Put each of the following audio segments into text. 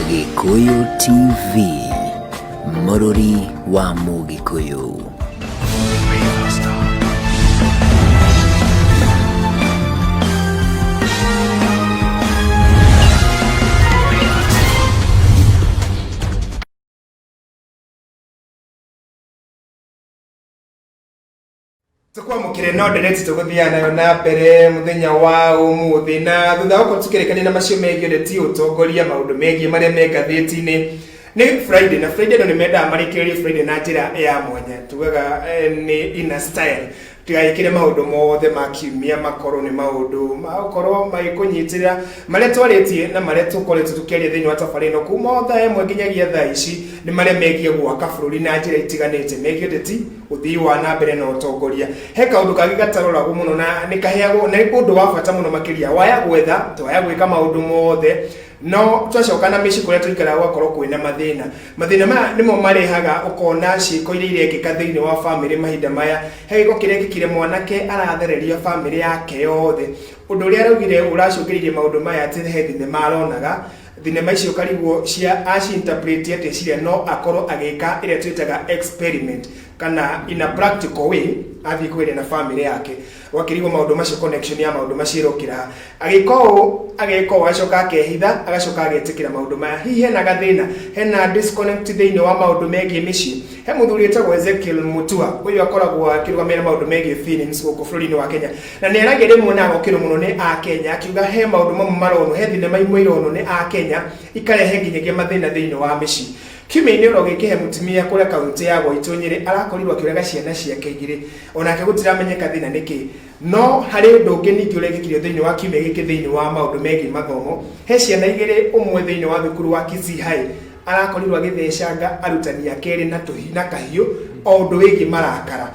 Gĩkũyũ TV, mũrũri wa Mũgĩkũyũ. tukwamukire no ndereti tuguthiana nayo na mbere muthenya wa umuthi na thutha wa kutukirikania na macio megiĩ ũteti ũtongoria maũndũ megiĩ marĩa me ngathĩti-inĩ nĩ friday na friday no nĩ mendaga marĩkĩrĩrie friday na njĩra ya mwanya tugaga eh, nĩ ina style tigagĩkĩre maũndũ mothe ma kiumia makorwo nĩ maũndũ magũkorwo magĩkũnyitĩrĩra marĩa twarĩtie na marĩa tũkoretwo tũkĩaria thĩinĩ wa tabarĩ ĩno kuma o thaa ĩmwe nginyagia thaa ici nĩ marĩa megiĩ gwaka bũrũri na njĩra itiganĩte megiĩ ũteti ũthii wa na mbere na ũtongoria he kaũndũ kangĩ gataroragwo mũno na nĩ kaheagwo na nĩ ũndũ wa bata mũno makĩria waya gwetha twaya gwĩka maũndũ mothe no twacoka na mĩciĩ kũrĩa tũikaraga gwakorwo kwĩna mathĩna mathĩna maya nĩmo marehaga ũkona ciĩko iria irekĩka thĩinĩ wa bamĩrĩ mahinda maya he gĩko kĩrekĩkire mwanake arathereria bamĩrĩ yake yothe ũndũ ũrĩa araugire ũracũngĩrĩirie maũndũ maya atĩ he thenema aronaga Thinema icio kariguo cia aci-interpret atĩ cirĩa no akorwo agĩka ĩrĩa twĩtaga experiment kana in a practical way athiĩ kũgeria na family yake gwakĩrigwo maũndũ macio connection ya maũndũ macio ĩrokĩra ha. agĩka ũũ ageka ũũ agacoka akehitha agacoka agetĩkĩra maũndũ maya hihi hena gathĩna hena disconnect thĩinĩ wa maũndũ megiĩ mĩciĩ he mũthuri wĩtagwo Ezekiel Mutua ũyũ akoragwo akĩrũgamĩrĩra maũndũ megiĩ feelings gũkũ bũrũri-inĩ wa Kenya Na nĩ aragĩa rĩmwe na agokĩrwo mũno nĩ Akenya akiuga he maũndũ mamwe maronwo, he thinema imwe ironwo nĩ Akenya ikarehe nginyagia mathĩna thĩinĩ wa mĩciĩ. Kiumia-inĩ oro gĩkĩ he mũtimia kũrĩa kauntĩ ya Gwaitũ Nyĩrĩ arakorirwo akĩũraga ciana ciake igĩrĩ, onake gũtiramenyeka thĩna nĩ kĩĩ. No harĩ ũndũ ũngĩ ningĩ ũrekĩkire thĩinĩ wa kiumia gĩkĩ thĩinĩ wa maũndũ megiĩ mathomo, he ciana igĩrĩ ũmwe thĩinĩ wa thukuru wa Kisii High arakorirwo agĩthecanga arutani ake erĩ na kahiũ o ũndũ wĩgiĩ marakara.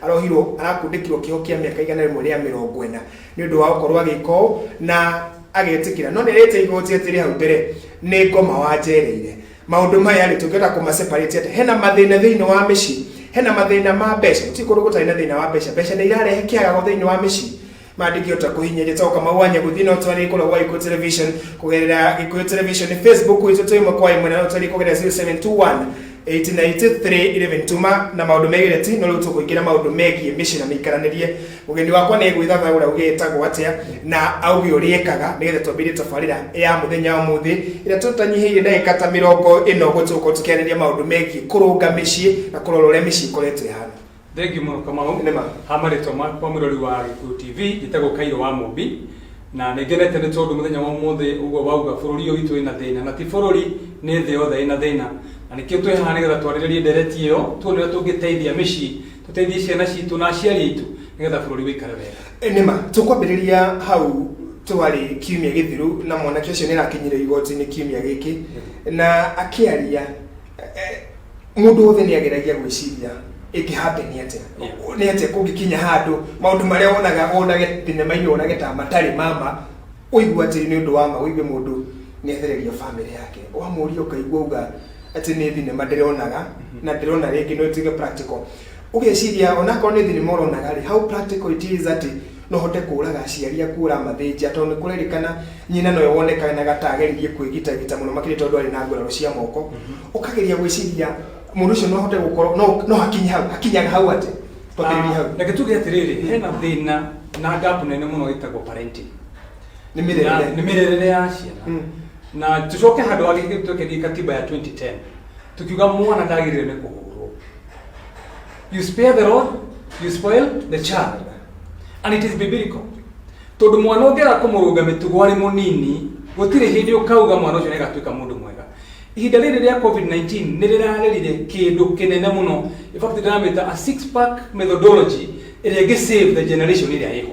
Arohirwo, arakundĩkirwo kĩoho kĩa mĩaka igana rĩmwe rĩa mĩrongo ĩna nĩ ũndũ wa gũkorwo agĩka ũũ, na agetĩkĩra. No nĩerĩte igoti atĩrĩ hau mbere, nĩ ngoma wanjereire. Maũndũ maya rĩ, tũngĩhota kũma separate atĩa? Hena mathĩna thĩinĩ wa mĩciĩ, hena mathĩna ma mbeca, gũtirĩ kũndũ gũtarĩ na thĩna wa mbeca. Mbeca nĩirarehe kĩagago thĩinĩ wa mĩciĩ. mandĩkio ta kũhinya gĩtoo kamau wanya gũthiĩ no twarĩ kũrĩa gwa ikuũ television kũgerera ikuũ television facebook itũ twĩ ĩmwe kwa ĩmwe na no twarĩ kũgerera 0721 1893 tuma na maũndũ megĩre ti no rĩu tũkũingĩra maũndũ megiĩ mĩciĩ na mĩikaranĩrie mũgeni wakwa nĩ gwĩthathagũra uge ĩtagwo atĩa na auge ũrĩa ĩkaga nĩgetha twambĩrĩrie tabarĩra ya mũthenya wa mũthĩ ĩrĩa tũtanyihĩire ndagĩka ta mĩrongo ĩno ũguo tũgũkorwo tũkĩarĩria maũndũ megiĩ kũrũnga mĩciĩ na kũrora ũrĩa mĩciĩ ĩkoretwo ĩhana Thengiũ mũno Kamau. Nĩ ma. Ha marĩtwa makwa mwĩrori wa Gĩkũyũ TV, njĩtagwo Kairũ wa Mũmbi, na nĩ ngenete nĩ tondũ mũthenya wa ũmũthĩ ũguo wauga bũrũri ũyũ witũ wĩna thĩna, na ti bũrũri nĩ thĩ yothe ĩna thĩna, na nĩkĩo twĩ haha nĩgetha twarĩrĩrie ndereti ĩyo, tuone ũrĩa tũngĩteithia mĩciĩ, tũteithie ciana citũ na aciari aitũ nĩgetha bũrũri wĩikare wega. Nĩ ma. Tũkwambĩrĩria hau twarĩ kiumia gĩthiru na mwanake ũcio nĩ arakinyire igoti-inĩ kiumia gĩkĩ na akĩaria. Mũndũ wothe nĩ ageragia gwĩciria ĩngĩhambe nĩ atĩa nĩ atĩa kũngĩkinya handũ maũndũ marĩa wonaga wonage thinema-inĩ wonage ta matarĩ mama ũigua atĩ nĩ ũndũ wa ma ũigwe mũndũ nĩ athereria bamĩrĩ yake wamũria ũkaigua auga atĩ nĩ thinema ndĩronaga na ndĩrona rĩngĩ no ĩtuĩke practical Ũgeciria onakorwo nĩ thinema ũronaga-rĩ, how practical it is atĩ no ũhote kũũraga aciari aku ũramathĩnjia, tondũ nĩ kũrerĩkana nyina nowe wonekanaga ta ageririe kwĩgitagita mũno makĩria tondũ arĩ na nguraro cia moko. Ũkageria gwĩciria mũndũ ũcio no ahote gũkorwo, no no hakinye hau, hakinyaga hau atĩa? Twambĩrĩrie hau. Reke tuge atĩrĩrĩ, hena thĩna na gap nene mũno ĩtagwo parenting. Nĩ Na mĩrerere. nĩ mĩrerere ya ciana. Mm. Na tũcoke handũ hangĩ ithuĩ twekenie katiba ya 2010, tũkiuga mwana ndagĩrĩire nĩ kũhũrwo. You spare the rod, you spoil the child. And it is biblical. Tondũ mwana ũngĩaga kũmũrũnga mĩtugo arĩ mũnini, gũtirĩ hĩndĩ ũkauga mwana ũcio nĩagatuĩka mũndũ mwega. Ihinda rĩrĩ rĩa COVID-19 nĩrĩrarerire kĩndũ kĩnene mũno. In fact, ndĩramĩta a six pack methodology ĩrĩa ĩngĩ save the generation ĩrĩa ĩho.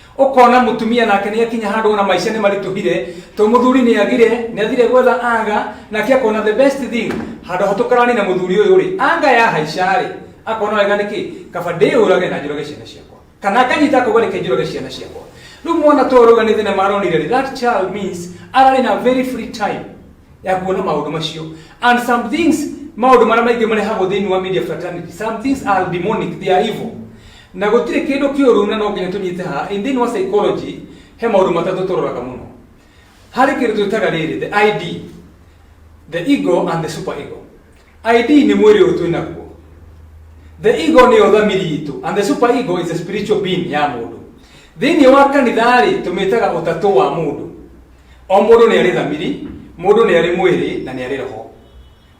Ũkona mũtumia nake nĩakinya handũ ona maica nĩmarituhire to mũthuri nĩagire, nĩathire gwetha anga, nake akona the best thing handũ ha tũkaranie na mũthuri ũyũ rĩ, anga yahaica rĩ, akona wega nĩkĩ, kaba ndĩyũrage na njũrage ciana ciakwa. Kana akanyita akauga reke njũrage ciana ciakwa. Rĩu mwana ta ũyũ arauga nĩ thenema aronire rĩ, that child means ararĩ na very free time ya kuona maũndũ macio. And some things, maũndũ marĩa maingĩ marehagwo thĩinĩ wa media fraternity, some things are demonic, they are evil. Na gũtirĩ kĩndũ kĩũru na no nginya tũnyite haha. In thĩinĩ wa psychology, he maũndũ matatũ tũroraga mũno. Harĩ kĩndũ twĩtaga rĩrĩ, the ID, the ego and the super ego. ID nĩ mwĩrĩ ũyũ twĩ naguo. The ego nĩyo thamiri itũ and the super ego is a spiritual being ya mũndũ. Thĩinĩ wa kanitha-rĩ, tũmĩtaga ũtatũ wa mũndũ. O mũndũ nĩ arĩ thamiri, mũndũ nĩ arĩ mwĩrĩ na nĩ arĩ roho.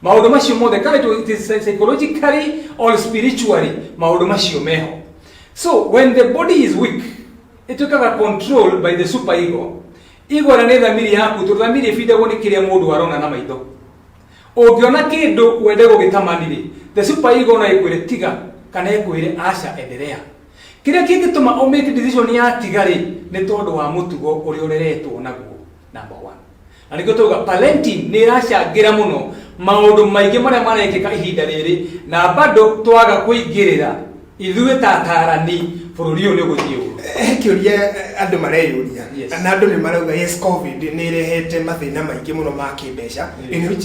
maũndũ macio mothe kana it was- it is psychologically or spiritually maũndũ macio meho so when the body is weak ĩtuĩkaga controlled by the super ego ego na nĩ thamiri yaku tondũ thamiri ĩbindagwo nĩ kĩrĩa mũndũ arona na maitho ũngĩona kĩndũ wende gũgĩtamanirĩ the super ego no ĩkwĩre tiga kana ĩkwĩre aca enderea kĩrĩa kĩngĩtũma ũmake decision ya tiga-rĩ nĩ tondũ wa mũtugo ũrĩa ũreretwo naguo number one Na nĩkĩo twauga Palentine nĩ ĩracangĩra mũno maũndũ maingĩ marĩa marekĩka ihinda rĩrĩ na bado twaga kũingĩrĩra ithuĩ ta atarani bũrũri ũyũ nĩ ũgũthiĩ ũru. He kĩũria andũ mareyũria Yes. na andũ nĩ marauga yes covid nĩ ĩrehete mathĩna maingĩ mũno ma kĩmbeca in which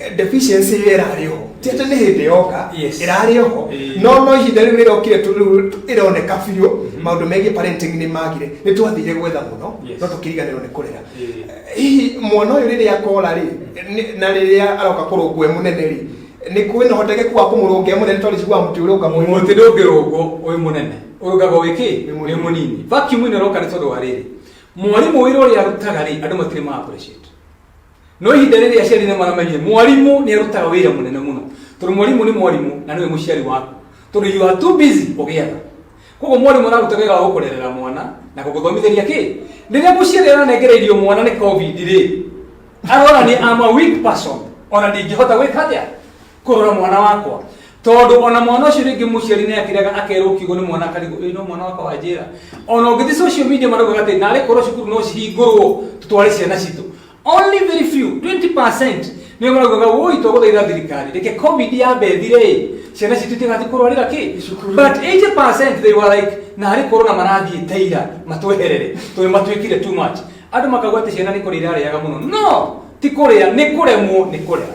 Eh, deficiency ĩrĩa ĩrarĩ ho ti atĩ nĩ hĩndĩ yoka Yes. ĩrarĩ ho Eh. no no ihinda rĩu rĩrokire tu- rĩu ĩroneka biũ maũndũ megiĩ parenting nĩ magire nĩ twathire gwetha mũno Yes. no tũkĩriganĩrwo nĩ kũrera Eh. hihi mwana ũyũ rĩrĩa akora rĩ nĩ- na rĩrĩa aroka kũrũngwo e mũnene rĩ nĩ kwĩ na ũhotekeku wa kũmũrũnga e mũnene tondũ njiguaga mũtĩ ũrĩa ũka mũnene mũtĩ ndũngĩrũngwo wĩ mũnene ũrũngagwo wĩ kĩ Wĩ mũnini. wĩ mũnini vacuum ĩno ĩroka nĩ tondũ wa rĩrĩ mwarimũ wĩra ũrĩa arutaga rĩ andũ matirĩ ma appreciate no ihinda rĩrĩa aciari nĩ maramenyire mwarimũ nĩ arutaga wĩra mũnene mũno tondũ mwarimũ nĩ mwarimũ na nĩwe mũciari waku tondũ you are too busy ũgĩetha koguo mwarimũ araruta wĩra wa gũkũrerera mwana na gũgũthomithĩria kĩ rĩrĩa mũciari aranengera irio mwana nĩ covid rĩ arona nĩ ama weak person ona ndingĩhota gwĩka atĩa kũrora mwana wakwa tondũ ona mwana ũcio rĩngĩ mũciari nĩ akĩrega akerwo kiugo nĩ mwana karigũ ĩno mwana wakwa wa njĩra ona ũngĩthi social media maraugaga atĩ narĩ korwo cukuru no cihingũrwo tũtware ciana citũ only very few 20% nĩo maraugaga woi twagũthaitha thirikari reke covid yambe thire ĩ ciana citũ itigathiĩ kũrwarĩra kĩ but 80% they were like narĩ korwo na marathiĩ teira matweherere tondũ matuĩkire too much andũ makauga atĩ ciana nĩ kũrĩa irarĩaga mũno no ti kũrĩa nĩ kũremwo nĩ kũrera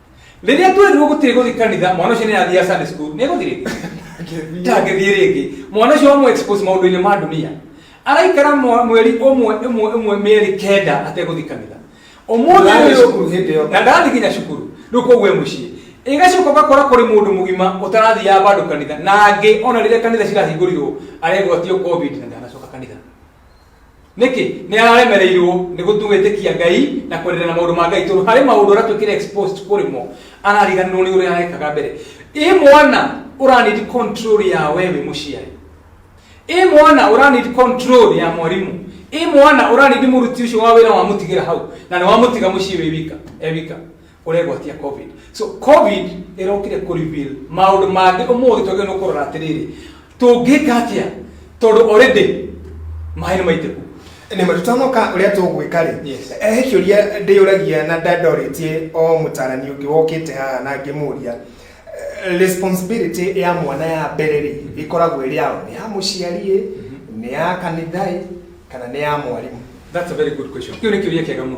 rĩrĩa twerirwo gũtirĩ gũthiĩ kanitha mwana ũcio nĩ athiaga sunday school nĩ gũthirĩ ndangĩthiĩ rĩngĩ mwana ũcio wamũ expose maũndũ-inĩ ma dunia araikara mwa- mweri ũmwe ĩmwe ĩmwe mĩeri kenda ategũthiĩ kanitha ũmũthĩ Ndathiĩ ũyũ- cukuru hĩndĩ ĩyo. na ndathiĩ nginya cukuru rĩu koguo e mũciĩ ĩgacoka ũgakora kũrĩ mũndũ mũgima ũtarathiaga bandũ kanitha na angĩ ona rĩrĩa kanitha cirahingũrirwo aregwatio covid na ndanacoka kanitha nĩkĩ nĩ araremereirwo nĩ gũtũgĩtĩkia ngai na kwendelea na maũndũ ma ngai tondũ harĩ maũndũ ũrĩa twĩkĩre exposed kũrĩ mo arariganĩrwo nĩ ũrĩa arekaga mbere ĩ mwana ũranidi control ya wewe mũciari ĩ mwana ũranidi control ya mwarimũ ĩ mwana ũranidi mũruti ũcio wa wĩra wamũtigĩra hau na nĩ wamũtiga mũciĩ wĩ wika e wika ũregwatia covid so covid ĩrokire kũ reveal maũndũ mangĩ ũmũthĩ twagĩrĩirwo nĩ kũrora atĩrĩrĩ tũngĩka atĩa tondũ already maĩ nĩ maitĩku nä ma tutanoka å rä a tå gwä ka rä Yes. he kä å ria ndä yå ragia na ndandorä tie o må tarani å ngä wokä te haha na ngä må ria responsibility ya mwana ya mbere rä ä koragwo ä rä ao nä ya må ciari nä ya kanitha kana nä ya mwarimå That's a very good question. Hiyo ni kiuria kiega mno.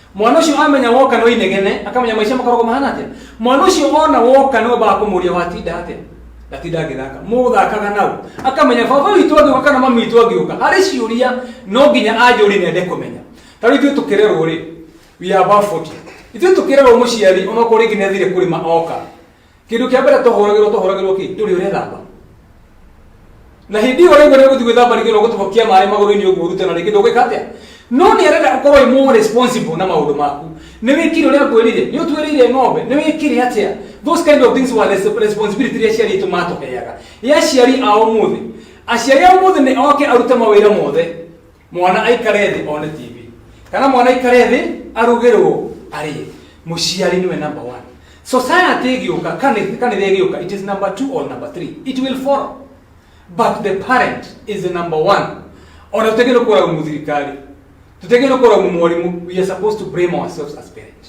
mwana ũcio amenya woka no inegene akamenya maica makoragwo mahana atĩa mwana ũcio ona woka no mbaga kũmũria watinda atĩa ndatinda ngĩthaka mũthakaga nau akamenya baba witũ angĩũka kana mami witũ angĩũka harĩ ciũria no nginya anjũri nende kũmenya ta rĩu ithuĩ tũkĩrerwo rĩ we are about 40 ithuĩ tũkĩrerwo mũciari ona okorwo rĩngĩ nĩathire kũrĩma oka Kĩndũ kĩa mbere tohoragĩrwo tohoragĩrwo kĩ? Nĩ ũrĩa ũrethamba. Na hĩndĩ ĩyo ũraigua nĩ ũgũthiĩ gwĩthamba rĩngĩ na ũgũtobokia maĩ magũrũ-inĩ ũguo ũrute na rĩngĩ ndũgwĩka atĩa? No nĩ arenda ũkorwo wĩ more responsible na maũndũ maku. Nĩ wĩkire ũrĩa ngwĩrire? Nĩ ũtuĩrĩire ng'ombe? Nĩ wĩkire atĩa? Those kind of things were res- responsibility iria aciari aitũ matũheaga. Ĩ aciari a ũmũthĩ? Aciari a ũmũthĩ nĩ oke arute mawĩra mothe. mwana aikare thĩ one tv kana mwana aikare thĩ arugĩrwo arĩe mũciari nĩwe number one society ĩgĩũka kanitha kanitha ĩgĩũka it is number two or number three it will follow but the parent is the number one ona tũtegĩrwo kũraumu thirikari tũtegĩrwo kũraumu mwarimũ we are supposed to blame ourselves as parents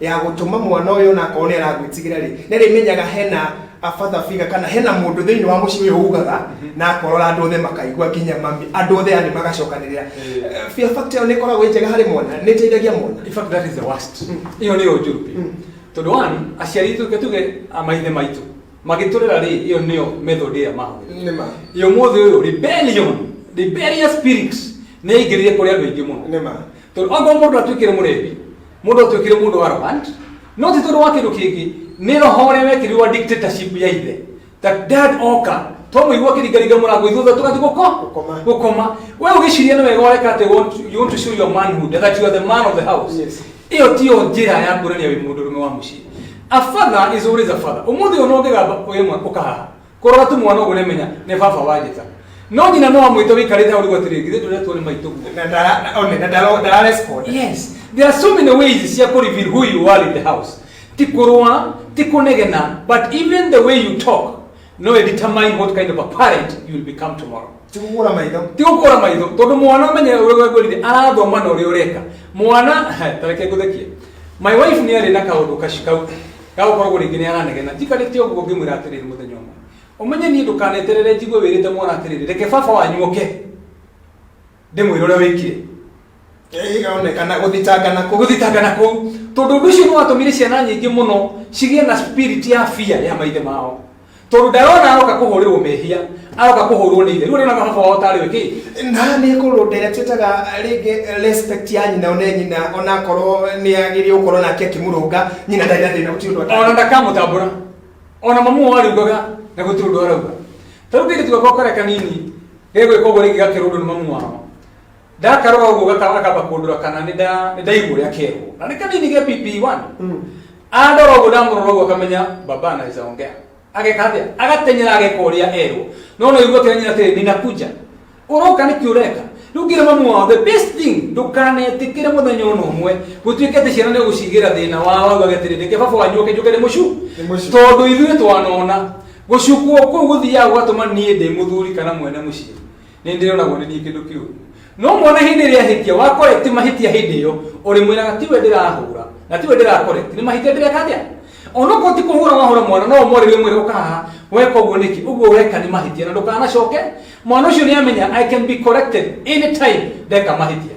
ya gũtũma mwana ũyũ ona akorwo nĩ aragwĩtigĩra rĩ nĩ rĩmenyaga hena abatha figa kana hena mũndũ thĩinĩ wa mũciĩ ũyũ ugaga na akorora andũ othe makaigua nginya mami andũ othe yani magacokanĩrĩra Eh, fear factor ĩyo nĩ ĩkoragwo ĩ njega harĩ mwana nĩ ĩteithagia mwana in fact that is the worst iyo niyo njuru pi tondu one aciari itu ke tuge a maithe maitu magiturera ri iyo niyo method ya maho nĩ ma iyo muthe uyu rebellion rebellious spirit ni ingiririe kuri andu aingi muno nĩ ma tondu okorwo mundu atuikire murebi mundu atuikire mundu wa arrogant no ti tondu wa kindu kingi ni roho uria wekirwo wa dictatorship ya ithe ta dad oka twamuigua kiringaringa murango ithutha tugathi guko Gũkoma. gukoma we ugiciria ni wega ureka ati want- you want to show your manhood that you are the man of the house Yes. iyo tiyo njira ya kuonania wi mundu rume wa mucii a father is always a father umuthi uyu no ngigamba uyu mwe ukahaha Kũrora tu mwana ũguo nĩmenya nĩ baba wa njĩta. No nyina no amwĩte wĩikarĩte hau rĩu atĩrĩ githĩ ndũretwo nĩ maitũ guo. Na ndara- na- one, na ndara- ndara respond. Yes, there are so many ways cia kũreveal who you are in the house. Ti kũrũa, ti kũnegena, but even the way you talk no it determine what kind of a parent you will become tomorrow. Ti kũgũra maitho. Ti gũkũra maitho tondũ mwana ũmenye ũrĩa ngorire arathoma na ũrĩa ũreka. Mwana tareke ngũthekie. My wife nĩ arĩ na kaũndũ kaci kau Gagũkorwo ũguo rĩngĩ nĩaranegena. Njikarĩte ũguo ngĩmwĩra atĩrĩrĩ mũthenya ũmwe, Ũmenye niĩ ndũkaneterere njigue wĩrĩte mwana atĩrĩrĩ, reke baba wanyu oke ndĩmwĩre ũrĩa wĩkire. Ĩgaonekana gũthitangana kũu. Gũthitangana kũu. Tondũ ũndũ ũcio nĩwatũmire ciana nyingĩ mũno cigĩe na spirit ya fear ya maithe mao. tondu ndarona aroka kuhurirwo mehia aroka kuhurwo ni ithe riu nona mahaba wao tari wiki na nä kå rå ndä twätaga rä respect ya nyina one nyina ona korwo nä agä rä gå korwo nake akä må rå nga nyina ndarä na thä na gå tirå ona ndakamutambura ona mamu wao ariugaga na guti undu arauga tariu kairitu gakwa kare kanini gegwika uguo ringi gakirwo undu ni mamu wao ndakarora ũguo gaka- akamba kũndũra kana nĩ nda- nĩ ndaigua ũrĩa kerwo na nĩ kanini ge pp1 andora ũguo ndamũrora ũguo akamenya baba anaweza ongea ageka atĩa agatenyera ageka ũrĩa erwo no no igua kĩranyina atĩrĩ ninakuja ũroka nĩkĩ ũreka rĩu ngĩra mamu wao the best thing ndũkanetĩkĩre mũthenya ona ũmwe gũtuĩke atĩ ciana nĩ gũcigĩra thĩna wao augaga atĩrĩ ndeke baba wanyu oke njoke ndĩmũcu Ndĩmũcu. tondũ ithuĩ twanona gũcukwo kũu gũthiaga gũgatũma niĩ ndĩ mũthuri kana mwene mũciĩ Nĩ ndĩroragwo nĩ niĩ kĩndũ kĩũru. No mwana hĩndĩ ĩrĩa ahĩtia, wakoreti mahĩtia hĩndĩ ĩyo, ũrĩmwĩraga tiwe ndĩrahũra, na tiwe ndĩrakoreti, nĩ mahĩtia ndĩreka atĩa? Onokorwo ti kũhũra wahũra mwana, no ũmwarĩrie ũmwĩre ũka haha, weka ũguo nĩkĩ? Ũguo weka nĩ mahĩtia na ndũkanacoke. Mwana ũcio nĩ amenya I can be corrected anytime ndeka mahĩtia.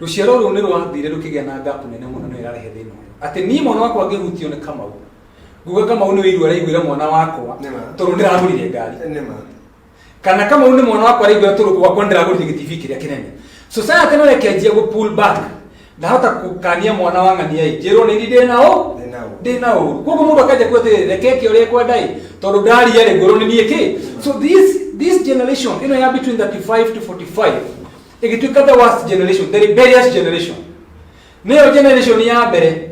rũciaro rũu nĩ rwathire rũkĩgĩa na ngapu nene mũno nĩyo ĩrarehe thĩna ũyũ atĩ niĩ mwana wakwa ngĩhutio nĩ kamau nguga kamau nĩwe iru araiguĩra mwana wakwa Nĩma. tondũ ndĩragũrire ngari nĩ ma kana kama nĩ mwana wakwa araigua tũrũ gwakwa ndĩragũrire gĩtibi kĩrĩa kĩnene society no rekenjia gũ pull back ndahota kũkania mwana wa ng'ania ĩ njĩrwo nĩ ndĩ na ũ Ndĩ na ũũru. ndĩ na ũru koguo mũndũ akanjia kuga atĩrĩ reke ke ũrĩa kwenda ĩ tondũ ndaria rĩ ngũrwo nĩ niĩ kĩ so this this generation ĩno ya between 35 to 45 ĩgĩtuĩka the worst generation the rebellious generation nĩyo generation ya mbere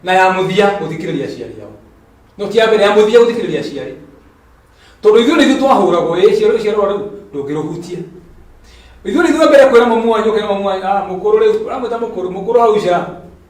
na ya mũthia gũthikĩrĩria aciari ao no ti ya mbere ya mũthia gũthikĩrĩria aciari tondũ ithuĩ nĩithuĩ twahũragwo ĩ ciarwo ciarwo rĩu ndũngĩrũhutia ithuĩ nĩithuĩ mbere kwĩra mamu wanyu ũkĩra mamu wanyu ah mũkũrũ rĩu ũramwĩta mũkũrũ mũkũrũ hau nja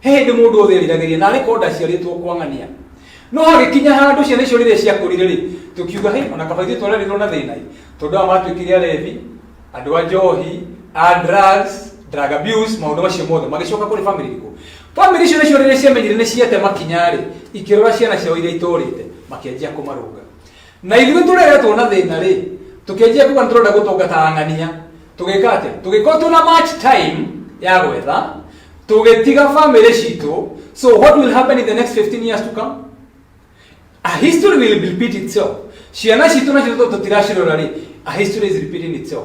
he hĩndĩ mũndũ wothe eriragĩria na arĩ korwo ndaciarĩtwo kwang'ania no hagĩkinya handũ ciana icio rĩrĩa ciakũrire rĩ tũkiuga hĩ ona kaba ithuĩ twarerirwo na thĩna ĩ tondũ aya matuĩkire arebi andũ a njohi a drugs drug abuse maũndũ macio mothe magĩcoka kũrĩ family irĩkũ family icio nĩcio rĩrĩa ciamenyire nĩ ciate makinya rĩ ikĩrora ciana ciao iria itũrĩte makĩanjia kũmarũnga na ithuĩ tũreretwo na thĩna rĩ tũkĩanjia kuga nĩ tũrenda gũtungata ang'ania tũgĩka atĩ tũgĩkorwo twĩna match time ya gwetha tũgĩtiga bamĩrĩ citũ so what will happen in the next 15 years to come a history will repeat itself ciana citũ nacio tũ- tũtiracirora rĩ a history is repeating itself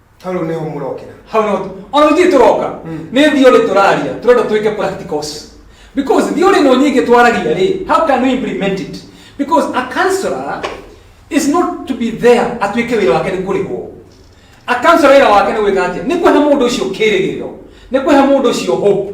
Hau rĩu nĩho mũrokĩra. hau no ona gũtirĩ tũroka nĩ theory tũraria tũrenda twĩke practicals because theory ĩno nyingĩ twaragia rĩ how can we implement it because a counselor is not to be there atuĩke wĩra wake nĩ kũrĩhwo a counselor wĩra wake nĩ gwĩka atĩa nĩ kũhe mũndũ ũcio kĩrĩgĩrĩro nĩ kũhe mũndũ ũcio hope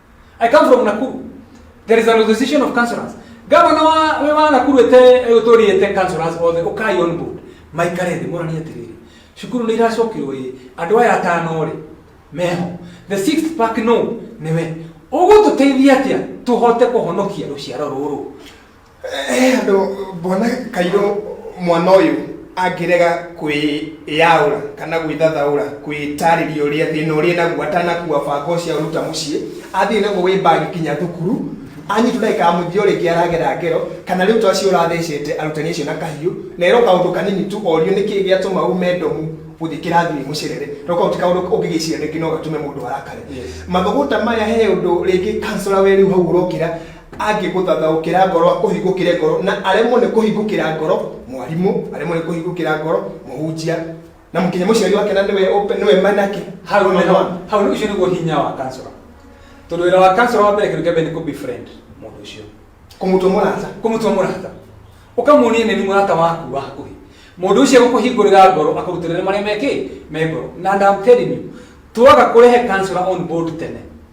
I come from Nakuru. There is an association of councillors. Gavana wa we wa Nakuru ete utori ete councillors all the okay on board. Maikare thĩ morani atĩrĩrĩ. Cukuru nĩ iracokirwo ĩ andũ aya atano rĩ meho. The sixth pack no nĩwe. Ũgũtũteithia atĩa tũhote kũhonokia rũciaro rũrũ? He andũ ngona kairũ mwana ũyũ angĩrega kwĩyaũra kana gwĩthathaũra kwĩtarĩria ũrĩa thĩna ũrĩa naguo atanakua banga ũcio aruta mũciĩ athiĩ naguo wĩ mbagi kinya thukuru anyitwo ndagĩka ya mũthia ũrĩngĩ aragera ngero kana rĩu tacio ũrathecete arutani acio na kahiũ na ero kaũndũ kanini tu orio nĩkĩ gĩatũma ume ndomu gũthiĩ kĩrathi wĩ mũcerere no kau ti kaũndũ ũngĩgĩciria rĩngĩ no gatũme mũndũ arakare mathũgũta maya he ũndũ rĩngĩ kansora we rĩu hau ũrokĩra angĩgũthathaũkĩra ngoro akũhingũkĩre ngoro na aremwo nĩ kũhingũkĩra ngoro mwarimũ aremwo nĩ kũhingũkĩra ngoro mũhunjia na mũkinya mũciari wake na nĩwe open- nĩwe manake hau Nĩwe nĩ- mwana. hau nĩ ũcio nĩguo hinya wa kansora tondũ wĩra wa kansora wa mbere kĩndũ kĩa mbere nĩ kũbefriend mũndũ ũcio kũmũtua mũrata kũmũtua mũrata ũkamuonia nĩ mũrata waku wa hakuhĩ mũndũ ũcio gũkũhingũrĩra ngoro akũrutĩrĩre marĩa mekĩ me ngoro na and I'm telling you twaga kũrehe kansora on board tene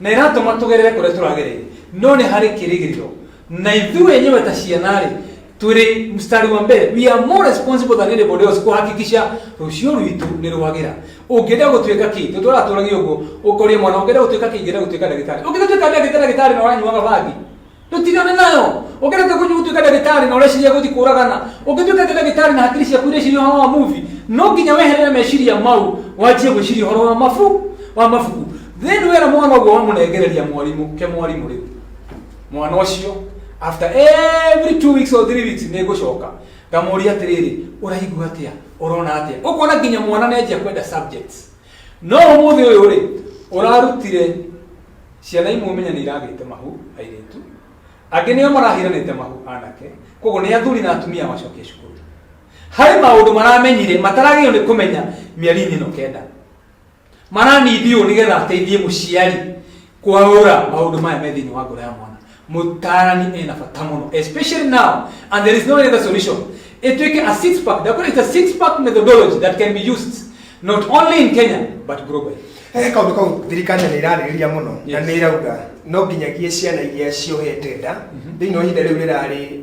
Na ĩratũma tũgerere kũrĩa tũragereire. No nĩ harĩ kĩrĩgĩrĩro. Na ithuĩ enyewe ta ciana-rĩ, twĩrĩ mstari wa mbere. We are more responsible than anybody else kũhakikisha rũciũ rwitũ nĩ rwagĩra. Ũngĩenda gũtuĩka kĩ? Nĩ tũratũragia ũguo. Ũkoria mwana ũngĩenda gũtuĩka kĩ? Ingĩenda gũtuĩka ndagĩtarĩ. Ũngĩenda gũtuĩka ndagĩtarĩ na ũranyuaga bangi? tũtigane nayo ũkĩrete gũthiĩ gũtuĩka ndagĩtarĩ na ũreciria gũthiĩ kũragana ũngĩtuĩka ta ndagĩtarĩ na hakiri ciaku ireciria ũhoro wa muvi no nginya weherere meciria mau wanjie gwĩciria ũhoro wa mabu wa mabuku then wera mwana ũguo wamũnengereria mwarimũ ke mwarimũ rĩu mwana ũcio after every two weeks or three weeks nĩ ngũcoka ngamũria atĩrĩrĩ ũraigua atĩa ũrona atĩa ũkona nginya mwana nĩ anjia kwenda subjects no ũmũthĩ ũyũ rĩ ũrarutire Ciana imwe ũmenye nĩ iragĩte mahu, airĩtu. Angĩ nĩo marahiranĩte mahu, anake. Kwoguo nĩ athuri na atumia macokie cukuru. Harĩ maũndũ maramenyire mataragĩrĩirwo nĩ kũmenya mĩeri-inĩ ĩno kenda. Maranithiũo nĩgetha ateithie mũciari kwaũra maũndũ maya me thĩinĩ wa ngoro ya mwana. Mũtaarani ena bata mũno, especially now, and there is no other solution. Ĩtuĩke a six pack, the is a six pack methodology that can be used not only in Kenya but globally. He kaundu kau thirikari nĩ ĩrarĩrĩria mũno na nĩ ĩrauga no nginyagia ciana iria ciohete nda mhm. thĩinĩ wa ihinda rĩu rĩrarĩ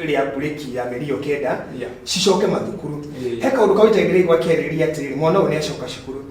rĩa mburĩki ya mĩeri ĩyo kenda cicoke mathukuru he kaundu kau itagĩrĩire gwakĩarĩrĩria atĩrĩrĩ mwana ũyũ nĩ acoka cukuru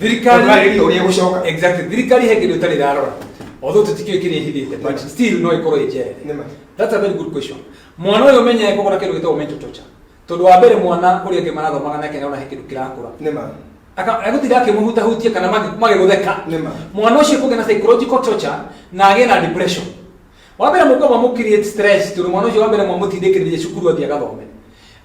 thirikari Ũndũ ũrĩa- ũrĩa gũcoka exactly thirikari he kĩndũ ĩtarĩ ĩrarora although tũtikĩũĩ kĩrĩa ĩhithĩte but still no ĩkorwo ĩ njere Nĩ ma. that's a very good question mwana ũyũ ũmenye kũgũra kĩndũ gĩtagwo mental torture tondũ wa mbere mwana ũrĩa ũngĩ marathomaga nake nĩona he kĩndũ kĩrakũra nĩ ma Aka- agũtinda akĩmũhutahutia kana magĩ- magĩgũtheka Nĩ ma. mwana ũcio kũgĩa na psychological torture na agĩe na depression wa mbere mũkwamba mũ create stress tondũ mwana ũcio wa mbere mwamũtindĩkĩrĩria cukuru athiĩ agathome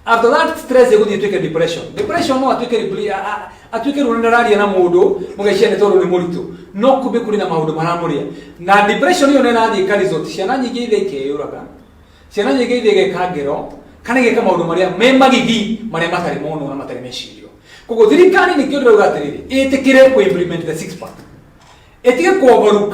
after that stress ĩgũthiĩ ĩtuĩke depression depression no atuĩke repli- a- a- atuĩke rĩu nĩndararia na mũndũ mũgeciria nĩ tondũ nĩ mũritũ no kumbe kũrĩ na maũndũ maramũrĩa na depression ĩyo nĩrathiĩ ĩka result ciana nyingĩ ithe ikeyũraga ciana nyingĩ ithe igeka ngero kana igeka maũndũ marĩa me magigi marĩa matarĩ monwo na matarĩ mecirio koguo thirikari nĩkĩo ndĩrauga atĩrĩrĩ ĩtĩkĩre kũ implement the six pack ĩtige kuoverlook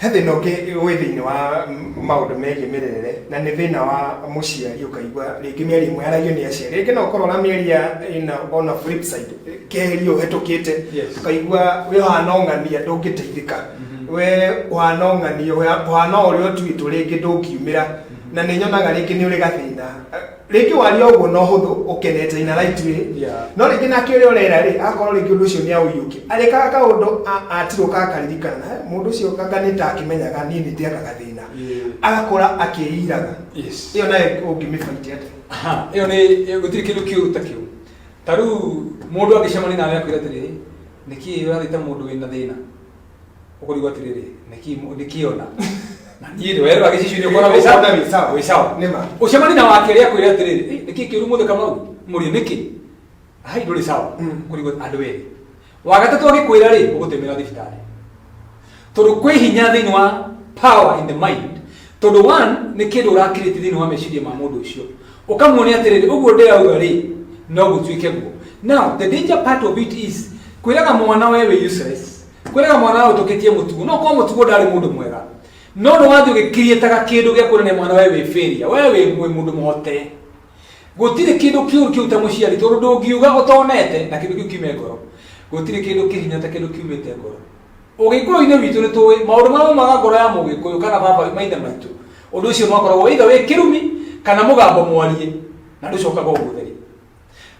He thĩna ũngĩ wĩ thĩinĩ wa maũndũ megiĩ mĩrerere, na nĩ thĩna wa mũciari ũkaigua rĩngĩ mĩario ĩmwe yaragio nĩ aciari. Rĩngĩ no ũkorwo ũramĩaria ĩna ona flip side, kĩgerio ũhetũkĩte, Yes. ũkaigua we ũhana ũng'ania ndũngĩteithĩka, we ũhana ũng'ania, ũhana ũrĩa ũtuĩtwo rĩngĩ ndũngiumĩra, na nĩ nyonaga rĩngĩ nĩ ũrĩ gathĩna. rĩngĩ waria ũguo no hũthũ ũkenete ina right way Yeah. no rĩngĩ nake ũrĩa ũrera rĩ akorwo rĩngĩ ũndũ ũcio nĩ aũiyũke arĩkaga kaũndũ a- atirũka akaririkana "Eh, mũndũ ũcio kanga nĩ ta akĩmenyaga niĩ nĩ ndĩaka gathĩna Yeah. agakora akĩĩiraga Yes. ĩyo nayo ũngĩmĩbaiti atĩa Aha, ĩyo nĩ ĩyo gũtirĩ kĩndũ kĩũru ta kĩu ta rĩu mũndũ angĩcemania nawe akwĩra atĩrĩrĩ nĩkĩ ũrathĩte mũndũ wĩna thĩna ũkũrigwo atĩrĩrĩ nĩkĩ mũ- nĩkĩ ona na niĩ rĩwe rwa gĩcicio-inĩ ũkona wĩ sawa Ũkona wĩ sawa. wĩ sawa Nĩ ma. ũcemani na wake rĩa kwĩra atĩrĩrĩ "Eh, nĩkĩ kĩũru mũthĩ kamau mũrĩ nĩkĩ hai ndũrĩ sawa Mm. kũrigwo andũ erĩ wagatatũ agĩkwĩra rĩ ũgũtemera thibitarĩ tondũ kwĩ hinya thĩinĩ wa power in the mind Tondũ one, nĩ kĩndũ ũrakirĩti thĩinĩ wa meciria ma mũndũ ũcio. Ũkamuonia atĩrĩrĩ, ũguo ndĩrauga rĩ, no gũtuĩke guo. Now, the danger part of it is, kwĩraga mwana we wĩ useless, kwĩraga mwana we ũtũkĩtie mũtugo, no korwo mũtugo ndarĩ mũndũ mwega, no nĩ wathiĩ ũgĩkiriĩtaga kĩndũ gĩa kuonania mwana we wĩ failure, we wĩ wĩ mũndũ mũhote. Gũtirĩ kĩndũ kĩũru kĩu ta mũciari, tondũ ndũngiuga ũtonete, na kĩndũ kĩu kiume ngoro. Gũtirĩ kĩndũ kĩrĩ hinya ta kĩndũ kiumĩte ngoro. Ũgĩkũyũ-inĩ witũ nĩ tũĩ maũndũ marĩa maumaga ngoro ya Mũgĩkũyũ kana baba maithe maitũ, ũndũ ũcio nĩ wakoragwo either wĩ kĩrumi kana mũgambo mwarie na ndũcokaga ũgũtheri.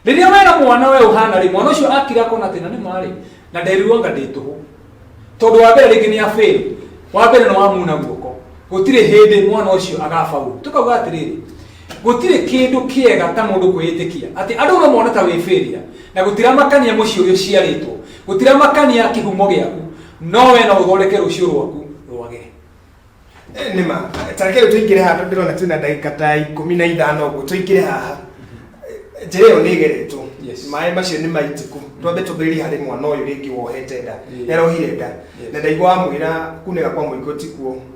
Rĩrĩa wera mwana we ũhana rĩ, mwana ũcio akira akona atĩ na nĩ ma rĩ, na nderirwo anga ndĩ tũhũ. Tondũ wa mbere rĩngĩ nĩ a fail, wa mbere nĩ wamuna guoko, gũtirĩ hĩndĩ mwana ũcio agabaũrũ. Tũkauga atĩrĩrĩ, Gũtirĩ kĩndũ kĩega ta mũndũ kwĩĩtĩkia atĩ andũ no mone ta wĩ failure, na gũtiramakania mũciĩ ũrĩa ũciarĩtwo, gũtiramakania kĩhumo gĩaku, no wee no ũthondeke rũciũ rwaku rwagĩre. Nĩ ma. Ta reke rĩu tũingĩre haha tondũ ndĩrona twĩna ndagĩka ta ikũmi na ithano ũguo. Tũingĩre haha. Njĩra ĩyo nĩ ĩgeretwo. Yes. Maĩ macio nĩ maitĩku. Twambe tũmbĩrĩrie harĩ mwana ũyũ rĩngĩ wohete nda. Nĩ arohire nda. Yes. Na ndaigua wamwĩra kunĩka kwa mũingĩ ũtikuo.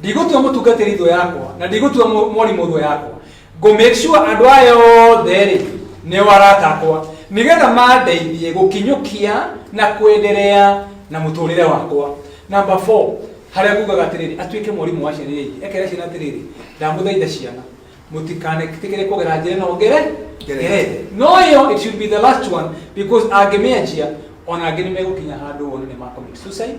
Ndigũtua mũtungatĩri thũ yakwa na ndigũtua mũ- mwarimũ thũ yakwa. Ngũ make sure andũ aya othe rĩ nĩo arata akwa nĩgetha mandeithie gũkinyũkia na kwenderea na mũtũrĩre wakwa. Number four, harĩa ngugaga atĩrĩrĩ atuĩke mwarimũ wa ciana iria ingĩ. Ekere ciana atĩrĩrĩ, ndamũthaitha ciana mũtikanetĩkĩre kũgera njĩra ĩno ngere ngerete. No ĩyo it should be the last one because angĩmĩanjia ona angĩ nĩ megũkinya handũ one nĩ makũmit suicide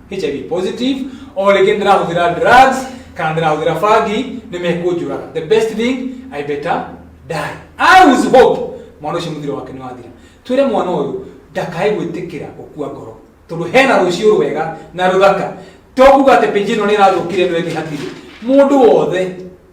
hiv positive oo rĩngĩ ndĩrahũthĩra drugs kana ndĩrahũthĩra bangi nĩ mekũnjũraga the best thing i better die i was hope mwana ũcio mũthiro wake nĩ wathira twĩre mwana ũyũ ndakae gwĩtĩkĩra gũkua ngoro tondũ hena rũciũ rwega na rũthaka to kuga atĩ pĩnji ĩno nĩ ĩrathũkire ĩno ĩngĩ hatirĩ mũndũ wothe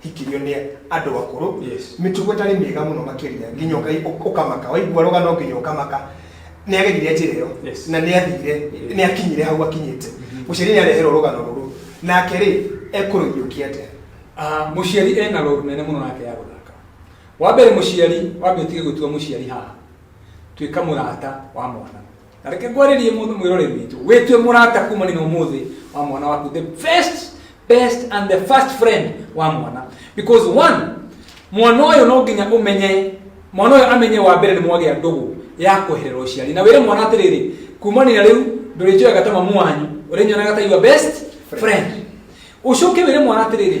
hikirio nĩ andũ akũrũ Yes. mĩtugo ĩtarĩ mĩega mũno makĩria nginya ũkai- ũ- ũkamaka waigua rũgano nginya ũkamaka nĩ agerire njĩra ĩyo Yes. na nĩ athire nĩ akinyire hau akinyĩte mũciari nĩ areherwo rũgano rũrũ nake rĩ ekũrũiyũkia atĩa Ah, mũciari ena rũru nene mũno nake ya gũthaka wa mbere mũciari wambe ũtige gwĩtua mũciari haha tuĩka mũrata wa mwana na reke ngwarĩrie mũndũ mwĩrore witũ wĩtue mũrata kumani na ũmũthĩ wa mwana waku the best best and the first friend wa mwana because one mwana ũyũ no nginya ũmenye mwana ũyũ amenye wa mbere nĩ mwagĩa ndũgũ ya kweherera ũciari na wĩre mwana atĩrĩrĩ kumanina rĩu ndũrĩnjoyaga ta mamu wanyu ũrĩnyonaga ta your best friend ũcoke wĩre mwana atĩrĩrĩ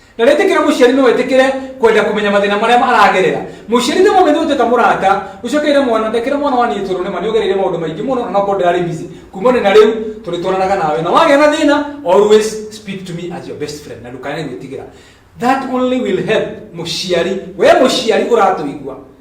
Na rĩtĩkĩra mũciari no etĩkĩre kwenda kũmenya mathĩna marĩa maragerera. Mũciari nĩ mũmenye ũteta mũrata, ũcokeire mwana, ndekĩra mwana wa niĩ toro nĩma nĩũgereire maũndũ maingĩ mũno na nokorwo ndĩrarĩ busy. Kuma nĩ na rĩu tũrĩtwaranaga nawe. Na wagĩa na thĩna, always speak to me as your best friend. Na ndũkage gwĩtigĩra. That only will help mũciari. We mũciari ũratũigua.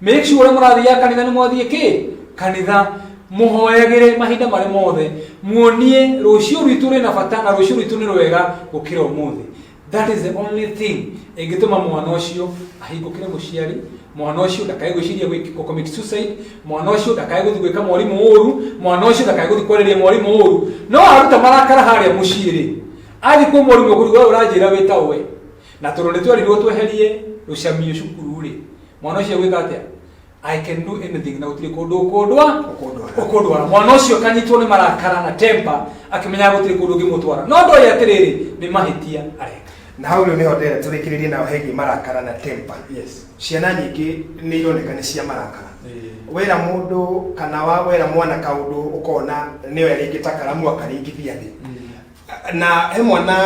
make sure ũrĩa mũrathiaga kanitha nĩ mwathiĩ kĩ kanitha mũhoyagĩre mahinda marĩ mothe muonie rũciũ rwitũ rwĩ na bata na rũciũ rwitũ nĩ rwega gũkĩra ũmũthĩ that is the only thing ĩngĩtũma mwana ũcio ahingũkĩre mũciari mwana ũcio ndakae gwĩciria gwĩki- gũ- commit suicide mwana ũcio ndakae gũthiĩ gwĩka mwarimũ ũũru mwana ũcio ndakae gũthiĩ kwarĩria mwarimũ ũũru no aruta marakara harĩa mũciĩ-rĩ athiĩ kwĩ mwarimũ kũrigwo ũranjĩra wĩta ũwe na tondũ nĩ twerirwo tweherie rũcamio cukuru-rĩ mwana ũcio gwĩka atĩa I can do anything na gũtirĩ kũndũ ũkũndwa Ũkũndwara. ũkũndwara mwana ũcio kanyitwo nĩ marakara na temper akĩmenyaga gũtirĩ kũndũ ũngĩmũtwara no ndoĩ atĩrĩrĩ nĩ mahĩtia areka na hau rĩu nĩho ndĩrenda tũrĩkĩrĩrie nayo hegiĩ marakara na temper yes ciana nyingĩ nĩ ironeka nĩ cia marakara wera mũndũ kana wa wera mwana kaũndũ ũkona nĩoya rĩngĩ ta karamu akaringithia thĩ na he mwana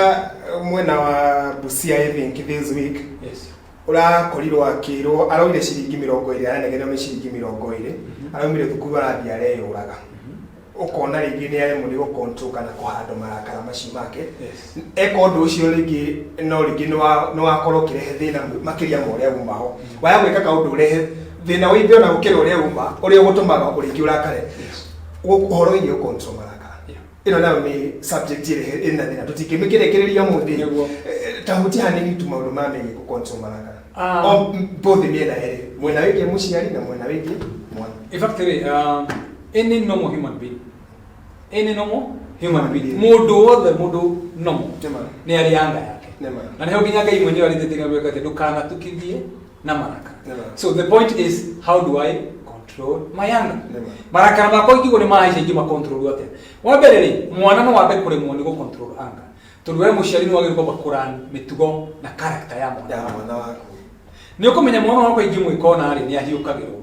mwena wa busia i think this week yes ũrakorirwo akĩrwo araumire ciringi mĩrongo ĩrĩ aranegenwo nĩ ciringi mĩrongo ĩrĩ araumire thukuru arathiĩ areyũraga ũkona rĩngĩ nĩ aremwo nĩ gũcontrol kana kũhandwo marakara macio make Yes. eka ũndũ ũcio rĩngĩ no rĩngĩ nĩ wa- nĩ wakorwo ũkĩrehe thĩna mũ- makĩria ma ũrĩa umaho waya gwĩka kaũndũ ũrehe thĩna wĩingĩ ona gũkĩra ũrĩa uma ũrĩa ũgũtũmaga ũrĩngĩ ũrakare Yes. Gũ- ũhoro wĩgiĩ gũcontrol marakara Yeah. ĩno nayo nĩ subject ĩrehe ĩna thĩna tũtingĩmĩkĩrekereria mũthĩ Nĩguo. tahuti hanini tu maũndũ ma megiĩ gũkonsomaraka Ah. O m- both mĩena ĩrĩ mwena wĩgiĩ mũciari na mwena wĩgiĩ mwana In fact, really, um, any normal human being, any normal human being, Human being. mũndũ wothe mũndũ normal Nĩ ma. nĩ arĩ anga yake Nĩ ma. na nĩho nginya ngai mwenyewe arĩtĩtĩria gwĩka atĩ ndũkanatukithie na marakara Yeah. so the point is how do i control my anger Yeah. marakara makwa ikigo nĩ mahaisha ingĩ makontrolu atĩa wa mbere rĩ mwana no wambe kũremwo nĩ gũcontrol anger tondũ we mũciari nĩ wagĩrĩirwo kwamba kũran mĩtugo na character ya mwana ya waku. mwana waku nä å kå menya mwana wakwa ingä mwä ka ona rä nä ahiå kagä rwo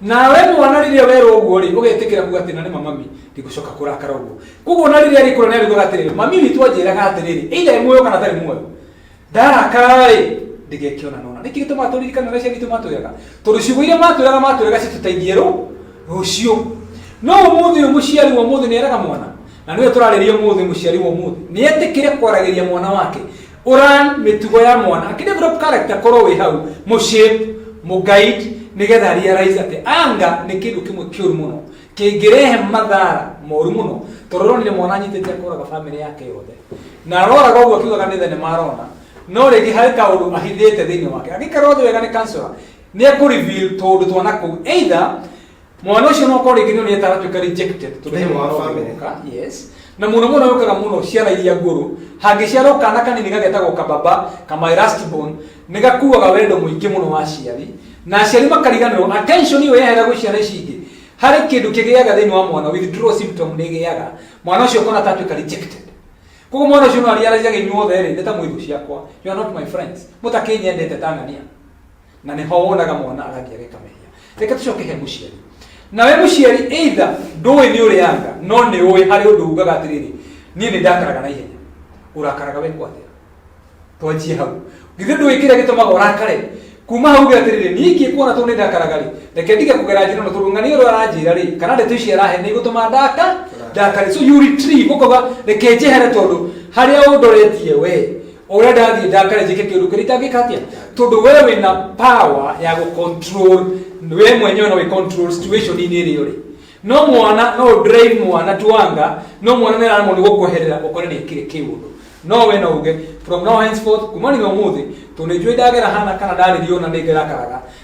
nawe mwana rĩrĩa werwo ũguo rĩ ũgetĩkĩra kuga atĩ na nĩ mamami ndikũcoka kũrakara ũguo koguo na rĩrĩa rĩkũra nĩ arĩugaga atĩrĩrĩ mami witũ anjĩraga atĩrĩrĩ either ĩ muoyo kana tarĩ muoyo ndarakara rĩ ndĩgekĩona nona nĩkĩ gĩtũmaga tũririkane ũrĩa ciana itũ matwĩraga tondũ ciugo iria matwĩraga matwĩraga citũteithie rũ rũciũ no ũmũthĩ ũyũ mũciari wa ũmũthĩ nĩ eraga mwana na nĩwe tũrarĩria ũmũthĩ mũciari wa ũmũthĩ nĩ etĩkĩre kwaragĩria mwana wake ũran mĩtugo ya mwana akidevelop character korwo wĩ hau mũshape mũguide nĩgetha realize atĩ anga nĩ kĩndũ kĩmwe kĩũru mũno kĩngĩrehe mathara moru mũno tondũ ronire mwana anyitĩte kũraga famĩlĩ yake yothe na aroraga ũguo akiugaga nĩ thenema arona no rĩngĩ harĩ kaũndũ ahithĩte thĩinĩ wake angĩkorwo thĩ wega nĩ counselor nĩ ekũreveal tũũndũ twana kũu either mwana ũcio no korwo rĩngĩ nĩ onire taratuĩka rejected tondũ Thĩinĩ nĩ wa mwana family. ũgũka yes na mũno mũno yũkaga mũno ciana iria ngũrũ hangĩciarwo kana kanini gagetagwo kababa kama erastibon nĩ gakuaga wendo mũingĩ mũno wa aciari na aciari makariganĩrwo attention ĩyo yehera gwĩ ciana ici ingĩ harĩ kĩndũ kĩgĩaga thĩinĩ wa mwana withdrawal symptom nĩ ĩgĩaga mwana ũcio ũkona tatuĩka rejected koguo mwana ũcio no ariarajaga inyuothe rĩ nĩ ta mwĩthũ ciakwa you are not my friends mũtakĩnyendete tanania na nĩho wonaga mwana agathiĩ ageka mehia reke tũcoke he mũciari nawe mũciari either ndũĩ nĩ ũrĩanga no nĩ ũĩ harĩ ũndũ ugaga atĩrĩrĩ niĩ nĩ ndakaraga na ihenya ũrakaraga we kwatĩa twanjie hau githĩ ndũĩ kĩrĩa gĩtũmaga ũrakare kuma hau gä atirä rä ningä kuona tå nä ndakaraga rä reke ndige kå gera njä no tondå ng'ani å rä aranjä ra rä kana ndeto ici arahe nä gå tå ma ndaka ndakare so you retrieve å kauga reke njehere tondå harä a å ndoretie we ũrĩa ndathiĩ ndakare njĩke kĩũndũ kĩrĩa itangĩka atĩa tondũ we wĩna power ya gũ control we mwenyewe no wĩ control situation inĩ ĩrĩ ũrĩ no mwana no ũ drive mwana tuanga no mwana nĩ aramwo nĩ gũkweherera ũkore nĩ kĩrĩ kĩũndũ no we no uge from now henceforth kuma nĩ ũmũthĩ tondũ nĩ njũĩ ndagera hana kana ndarĩrio na nĩ ngerakaraga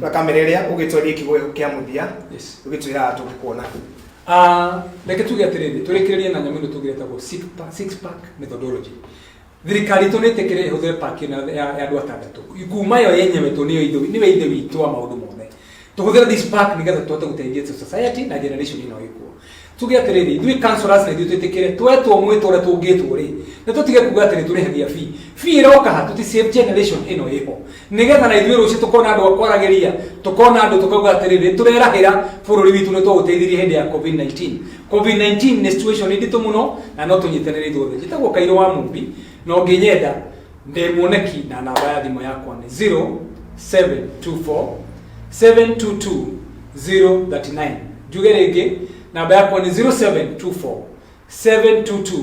na kamera ĩrĩa ũgĩtwarĩe kiugo kĩa mũthia Yes. ũgĩtwĩraga tũgĩkuona Ah, reke tuge atĩrĩrĩ tũrĩkĩrĩrie na nyamũ ĩno tũgĩretagwo six pack- six pack methodology thirikari itũ nä tä kä rä hå thä paki ä no ya ya andå atandatũ kuma yo yenyewe tå nä ithe nä we ithe witå wa maå ndå mothe tå hå thä re nä getha tå hote gå teithia society na generation ä no ä kuo tuge atiriri ithui councillors na ithui twitikire twetwo mwitwo uria tungitwo ri ni tutige kuga atiri turihagia fee fee iroka ha tuti save generation ino iho nigetha na ithui rucio tukona andu akwaragiria tukona andu tukauga atiriri turerahira bururi witu ni twauteithirie hindi ya covid 19 covid 19 ni situation nditu muno na no tunyitanire ithuothe njitagwo kairo wa mumbi no nginyenda ndĩ mwoneki na namba ya thimũ yakwa nĩ 0724 722 039 njuge rĩngĩ namba yakwa nĩ 0724 722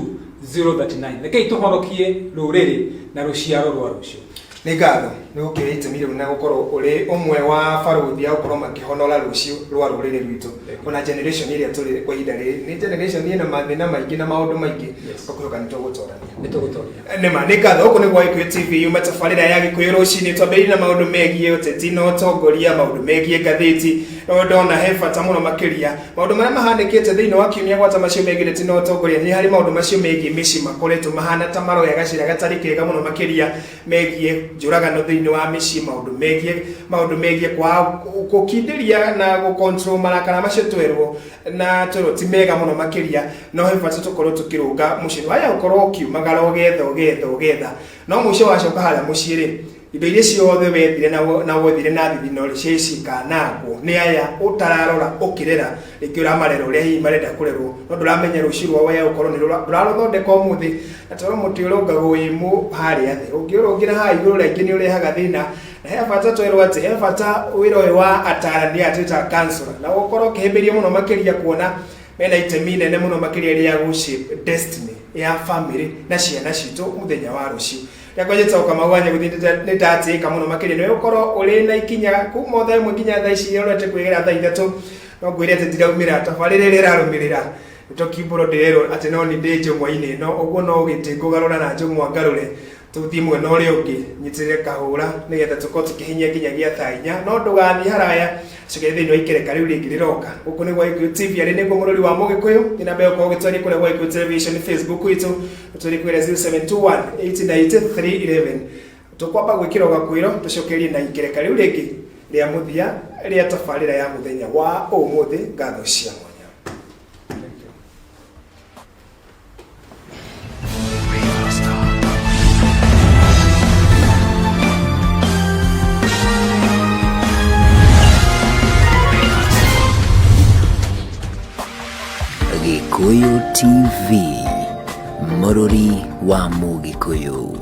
039 rekei tũhonokie rũrĩrĩ na rũciaro rwa rũciũ nĩ ngatho nĩ gũkĩra itemi rĩu na gũkorwo ũrĩ ũmwe wa barũthi ya gũkorwo makĩhonora rũciũ rwa rũrĩrĩ rwitũ ona generation ĩrĩa tũrĩ kwa ihinda rĩrĩ nĩ generation ĩna mathĩna maingĩ na maũndũ maingĩ Yes. ũkũrũka nĩ tũgũtorania nĩ tũgũtwarithia nĩma nĩ ngatho ũkũ nĩguo gĩkũyũ tv yume tabarĩra ya gĩkũyũ rũcinĩ twambĩrĩrie na maũndũ megiĩ ũteti na ũtongoria maũndũ megiĩ ngathĩti no ndona he bata mũno makĩria maũndũ marĩa mahanĩkĩte thĩinĩ wa kiumia gwata macio megiĩ ũteti na ũtongoria nĩ harĩ maũndũ macio megiĩ mĩciĩ makoretwo mahana ta maroya gacĩra gatarĩ kega mũno makĩria megiĩ njũragano thĩinĩ wa mĩciĩ maũndũ megiĩ maũndũ megiĩ kwa gũkindĩria na gũcontrol marakara macio twerwo na twerwo ti mega mũno makĩria no he bata tũkorwo tũkĩrũnga mũciĩ nĩ waya gũkorwo ũkiumagara ũgetha ũgetha ũgetha no mũico wacoka harĩa mũciĩ rĩ indo iria ciothe wethire na wo- na wothire na thithino rĩ ciaĩ cikanangwo nĩ aya ũtararora ũkĩrera rĩngĩ ũramarera ũrĩa hihi marenda kũrerwo no ndũramenya rũciũ rwao waya gũkorwo nĩ rũra- ndũrarũthondeka ũmũthĩ na toro mũtĩ ũrũngagwo wĩ mũ harĩa thĩ ũngĩũrũngĩra haha igũrũ rĩngĩ nĩ ũrehaga thĩna na he bata twerwo atĩ he bata wĩra ũyũ wa atarani aya twĩtaga councillor na ũkorwo ũkĩhĩmbĩria mũno makĩria kuona mena itemi inene muno makiria ria gu shape destiny ya family na ciana citu muthenya wa rucio rekwa jesu kamau anya guthi ni ndatika muno makiria ni ukorwo uri na ikinya kuma otha imwe nginya tha ici iria urete kwigera tha ithatu no ngwire ati ndiraumira tabarira iria irarumirira nitokimburo ndirerwo ati no ni ndi njumwa-ini ino uguo no giti ngugarura na njumwa ngarure tũthiĩ mwena ũrĩa ũngĩ nyitĩrĩre kahũra nĩgetha tũkorwo tũkĩhinyia nginya gĩa thaa inya no ndũgathiĩ haraya cũkĩrĩ thĩinĩ wa ikereka rĩu rĩngĩ rĩroka gũkũ nĩ gwa Gĩkũyũ TV arĩ nĩguo mũrũri wa mũgĩkũyũ nĩ namba ĩyo korwo ũgĩtwarĩria kũrĩa gwa Gĩkũyũ Television Facebook witũ ũtwarĩrie kwĩra 0721 189311 tũkwamba gwĩkĩra ũgakwĩro tũcokerie na ikereka rĩu rĩngĩ rĩa mũthia rĩa tabarĩra ya mũthenya wa ũmũthĩ ngatho cia mwanya Gĩkũyũ TV mũrũri wa Mũgĩkũyũ